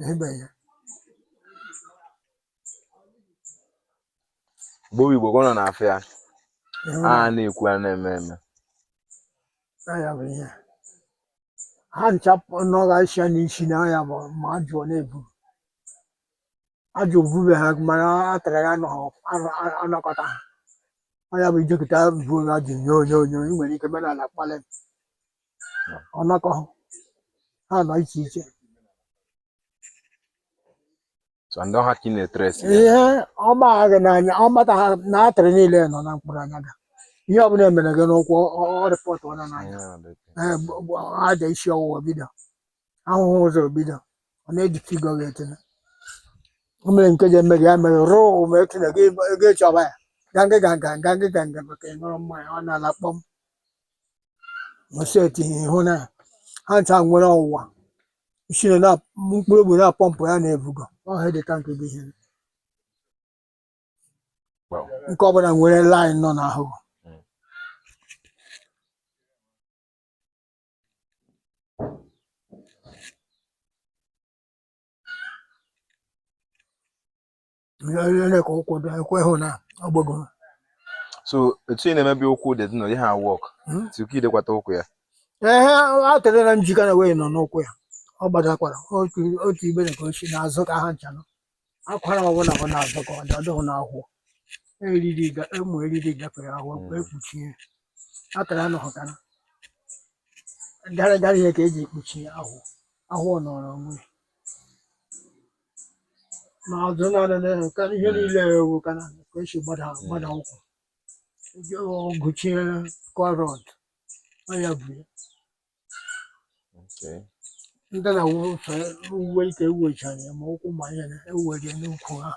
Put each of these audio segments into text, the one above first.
ịhụbeghị ya Igbo bụ Igbo ka ọ nọ na-afịa ya ịhụ a ya na-ekwu a na-eme eme na ya bụ ihe ha ncha nọghasị ya n'isi na ya bụ ma ajụ ọ na-ebu ajụ bube ha mana artery ha anọghọ anọ- anọ- anọkọta ha ọ ya bụ ijekọta buo ha ajụ nye onye onye i nwere ike mere ala kpalị ọnakọ ha nọ iche iche so ndị ọha ka ị na-etere esi ihe ọma ha gị n'anya ọmata ha na artery niile nọ na mkpụrụ anya gị ihe ọbụla emere gị n'ụkwụ ọ reportụọ ya n'anya ee bụ- bụ aja isi ọwụwa bido ahụhụ ụzọ bido ọ na-eji figo gị etinye o mere nke ji eme gị ya mere rụụ ma etinye gị ego ịchọba ya gangị ganga gangị ganga maka ịṅụrụ mmanya ọ na-ala kpọm ma si etu ihe hụ na ha ncha nwere ọwa isi na na- mkpụrụ obi na-apọmpụ ya na-ebugo ọha dị tank bụ ihe Wow. nke ọbụla nwere line nọ n'ahụ Mm. lele ka ụkwụ dị ekwe hụ na ọ gbago so etu ị na-emebi ụkwụ dị dị na ihe a wọk Hmm? tupu idekwata ụkwụ ya ehe artery na njikọ na wee nọ n'ụkwụ ya ọ gbadakwara otu otu ibe na ka o si n'azụ ka ha ncha nọ akwara ọbụla bụ n'azụ ka ọ dị ọ dịghị n'ahụ eriri ga- ụmụ eriri gafere ahụ Mm. wee kpuchie artery anọghọtara gara gara ihe ka eji ekpuchi ahụ ahụ ọ nọrọ onwe ya. ma azụ na anene ka ihe niile ewu ka na ka esi gbada gbada ụkwụ Eji ọgụchie kọrọt ọ ya bụ ya Okay. ndị na wufe uwe ike ewecha ya ma ụkwụ ma ya na ewere n'ukwu ha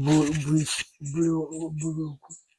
bụ bụ isi bụrụ bụrụ ukwu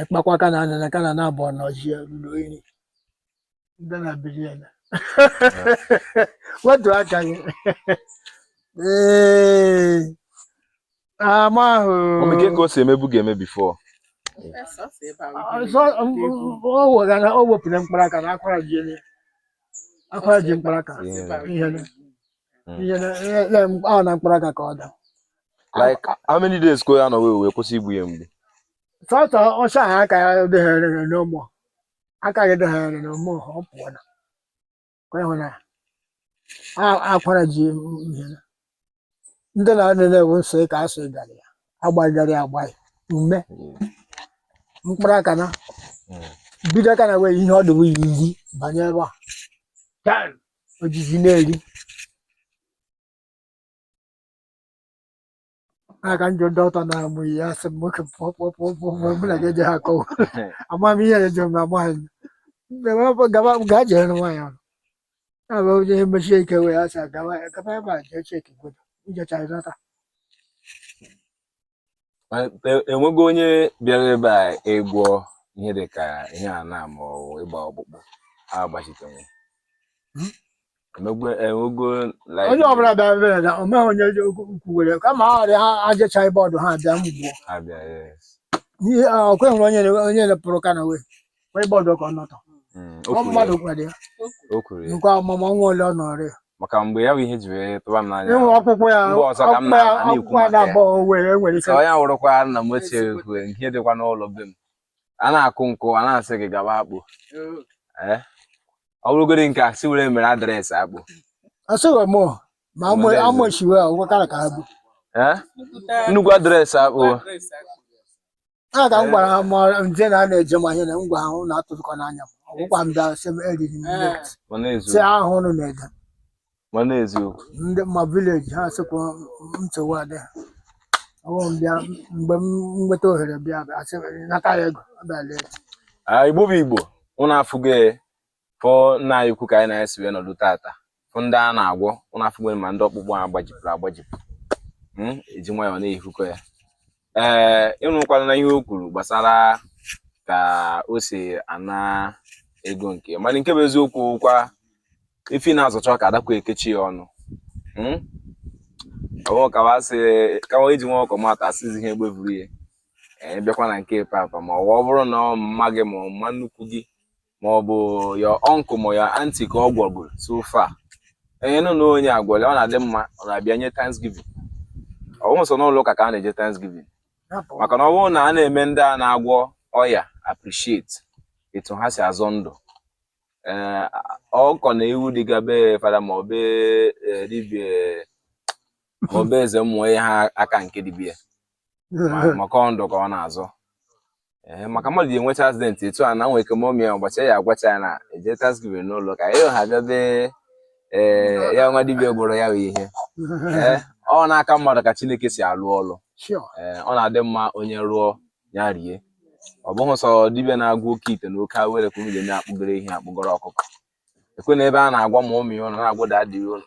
ekpakwa ka na anana ka na na abụọ na ọjị ya ruru iri ndị na biri ya na wetu aka gị ee ama ahụ Mami, ka ka o si emebu ga-eme before ọzọ ọ wega na o wepụrụ mkpara aka na akwara ji ele akwara ji mkpara aka ihe na ihe na ihe na ọ na mkpara aka ka ọ da like how many days ka ọ nọ wee wee kwụsị igbu ya mgbu sọsọ ọsọ ahụ aka ya dịghere n'ụmụ aka gị dịghere n'ụmụ ọ pụọ na ka ịhụ na a- akwara ji ihe na. ndị na ndị na-ewu nsọ ka a sọ gara ya agbagharị agbaghị ume mkpụrụ aka na bido aka na wee ihe ọ dịbụ iri banye ebe a Taa, o jizi na-eri a ka njọ ndị ọtọ na-amụ ihe a sị m nwoke pụọ pụọ pụọ pụọ pụọ mụ na gị eje ha akọwa ama m ihe eje m ama anyị gaba gaa jere nwaanyị ọrụ ya bụ onye mechie ike wee ya sị gaba gaba ebe a jee cheki godo ijecha ịnata enwego onye bịara ebe a ịgwọ ihe dị ka ihe a na ma ọ bụ ịgba ọkpụkpụ agbachitenwe hmm? onye ọbụla bịara ebe na omeghị onye ukwu were kama ha ọrịa ha ajechaghị bọọdụ ha abịa mgbuo ọkwa ị hụrụ onye onye pụrụ ka na wee wee gbọdọ ka ọ nọtọ Mm, o ọ kwuru mmadụ ya, gwara ya o kwuru ya nke ọmụmụ nwa ole ọ nọrọ ya maka mgbe ya bụ ihe ji wee tụba m n'anya ịnwe akwụkwọ ya Mgbe ọzọ ka m akwụkwọ ya na- na-ekwu akwụkwọ ya maka ya. na-abọ owe enwere ike ka onye wụrụkwa nna m ochie kwue nke dịkwa n'ụlọ be m a na-akụ nkụ a na-asị gị gaba akpụ ee ọ bụrụgodị nke a si were mere address akpụ asịghị m ma amụ- Nwere eze. amụchiwe ọgwụkara ka ha bụ ee nnukwu address akpụ a ga m gwara ha ma nje na a na-eje ma ihe na m gwa ha ụnụ atụtụkọ n'anya m ọ bụkwa m bịa sị m eriri m nne m. mana sị eziokwu ahụ ụnụ na-ede mana eziokwu ndị ma village ha sịkwa m nchewa adị ha ọwụ m bịa mgbe m nweta ohere bịa bịa sị m, nata ya ego ọ bịa lee Ah, Igbo bụ Igbo ụnụ afụgo ya fụ nna anyị ukwu ka anyị na-esi wee nọdụ tata fụ ndị a na-agwọ ụlọ afọ nwere ma ndị ọkpụkpụ a gbajipụrụ agbajipụ hmm, eji nwayọọ na-ehukọ ya ee ị nụkwara na ihe o kwuru gbasara ka o si ana ego nke mana nke bụ eziokwu kwa ifi na-azọcha ka adakwa ekechi ya ọnụ hmm? kawa iji nwa ọkụkọ mata asịzi ihe egbe buru ya bịakwa na nke papa ma ọ bụrụ na ọ mma gị ma ọ mma nnukwu gị ma ọ bụ your uncle ma your aunty ka ọ gwọgoro so far ehe nụ na onye a gwọrọ ọ na-adị mma ọ na-abịa nye thanksgiving ọ bụghị sọ n'ụlọ ụka ka a na-eje thanksgiving maka na ọ bụrụ na a na-eme ndị a na-agwọ ọya appreciate etu ha si azọ ndụ eh, ọkụkọ na ewu dịga be fada ma ọ be eh, dibia ma ọ be eze mmụọ ihe ha aka nke dibia maka ọndụ ka ọ na-azọ ee maka mmadụ ji enwecha accident etu a na nwee ike momi ya ụbọchị ya agwọcha ya na-eje thanksgiving n'ụlọ ụka ya ha bịabe ee ya nwa dibia gwọrọ ya bụ ihe ee ọ n'aka mmadụ ka chineke si alụ ọlụ ee ọ na-adị mma onye rụọ ya rie ọ bụghị sọ dibia na-agwọ oke ite na oke awere ka unu ga-eme akpụgoro ihe akpụgoro ọkụkọ ekwe na ebe a na-agwa ma ụmụ ya ụlọ na-agwụda adịghị ụlọ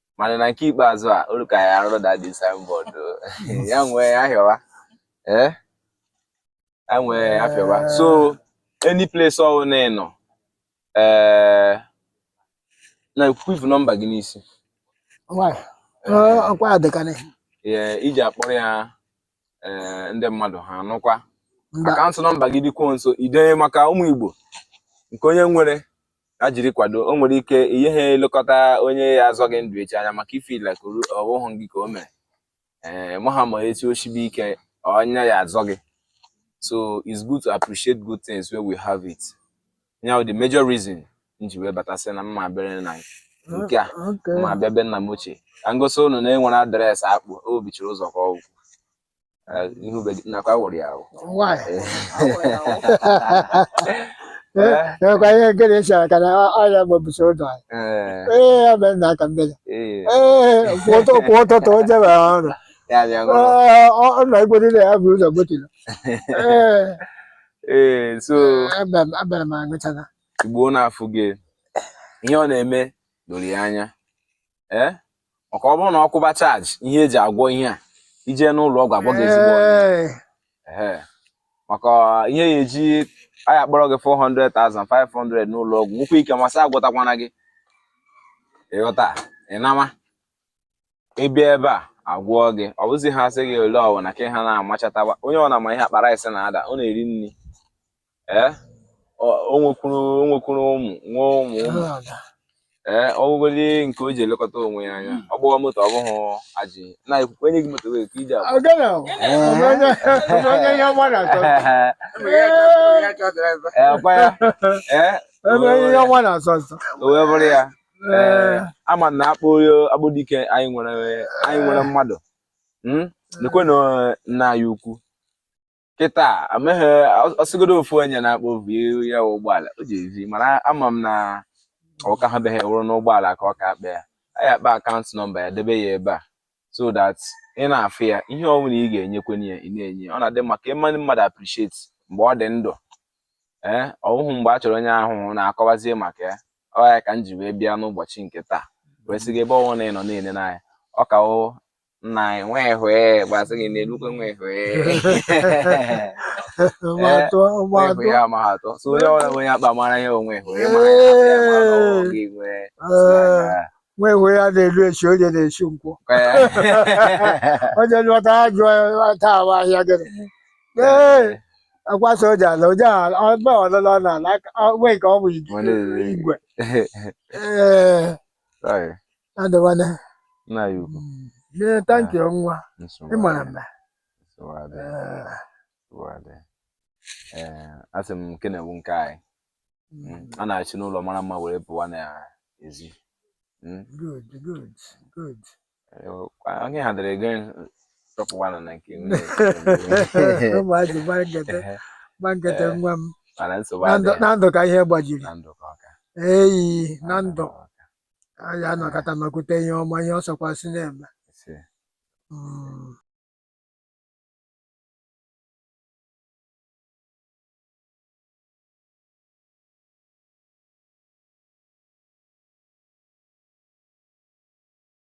mana na nke ikpeazụ a olu ka ya arụ dadi signboard ya nwee ahịọwa ee eh? ya nwee ahịọwa so any place ọwụna ị nọ ee eh, na ekwivu nọmba gị n'isi ọkwa adịkanị iji akpọrọ ya ee ndị mmadụ ha anụkwa Mba. akaụntụ nọmba gị dịkwuo nso idenye maka ụmụ Igbo nke onye nwere ya jiri kwado o nwere ike ihe ha elekọta onye ya azọ gị ndụ echi anya maka ị feel like oru- ọ bụghị gị ka o mere ee ị maha ma echi o sibe ike onye ya azọ gị so it's good to appreciate good things when we have it ya the major reason m ji wee bata sị na mma bere na nke a ma bịa be nna m ochie ka m gosi ụnụ na enwere adreesị akpụ o bichiri ụzọ ka ọgwụ ihu be gị nakwa wụrụ ya ahụ enwekwa ihe nkere esi aka na ọrịa gbabisi ụzọ anyị ee ya mere na aka mmiri ee kwa ụtụ- kwa ụtụtụ o jebe ọrụ ya bịa ṅụrụ Ee, ọ ọ na-egwedịrị ya bụ ụzọ gbotiri ee ee so abịara m agụchata igbo na-afụ gị ihe ọ na-eme doro ya anya ee maka ọ bụrụ na ọ kwụba charge ihe eji agwọ ihe a i je n'ụlọ ọgwụ agwọ gị ezigbo maka ihe ya eji a ya akpọrọ gị 400,000 500 n'ụlọ ọgwụ nwekwa ike ma sị agwọtakwana gị ị ghọta ị na-ama ị bịa ebe a agwọọ gị ọ bụzi ha sị gị ole ọwụna ka ha na-amachatawa onye ọ na-ama ihe akpa rice na-ada ọ na-eri nri ee o nwekwuru o nwekwuru ụmụ nwee ụmụ ụmụ ee ọ bụgodị nke o ji elekọta onwe ya anya ọ gbahọ moto ọ bụghị a sị na ekwukwe enye gị moto wee ka iji agwa Agana o. Ọmọ onye ọmọ onye ihe ọma na-atọ. ee ọkwa ya ee Ọmọ onye ihe ọma na-asọ nsọ. o wee bụrụ ya ee ama na akpọ Akpụ dike anyị nwere anyị nwere mmadụ hmm? lekwe na nna anyị ukwu kịta amaghị ọ sịgodo ofu onye na-akpọ obi ya ụgbọala o ji ezi mana ama m na ọka ha beghị wụrụ n'ụgbọala ka ọ ka akpa ya anyị akpa akaụntụ nọmba ya debe ya ebe a so that ị na-afụ ya ihe ọ bụla ị ga-enyekwenye ya ị na-enye ọ na-adị mma ka ị mee mmadụ appreciate mgbe ọ dị ndụ ee ọ wụhụ mgbe a chọrọ onye ahụ na-akọwazie maka ya ọ ya ka m ji wee bịa n'ụbọchị nke taa wee sị gị ebe ọ wụ na ị nọ na-ele n'anya ọ ka wụ nna anyị nwa ehwe gbasị gị n'elukwe nwa ehwe ehwe ya ma ha atọ so onye ọbụla bụ onye akpa mara ihe onwe ehwe ma ya ya ma na ọwụ gị nwee nwa ehwe ya na-elu echi onye na-echi nkwụ onye lụta ajụ taa ahụ ahịa gịnị Ee, akwa soja na oje ala ọgba ọlụlọ na ala aka- ọ- wee ka ọ bụ ig- Mana ere- igwe ee Sorry, adịwana nna ya ukwu. ee thank you nwa Nsogbu ịmara adịghị, mma nsogbu adịghị, Ee, nsogbu adịghị. Ee, asị m nke na-ewu nke anyị. Mm, A na-achị n'ụlọ mara mma were pụwa n'ezi. Mm, good good good onye ha dere ego tọpụwanụ na nke gbangete nwa m na ndụ ka ihe gbajiri eyi na ndụ anyị anọkata nọkwute ihe ọma ihe ọ sọkwasị na-eme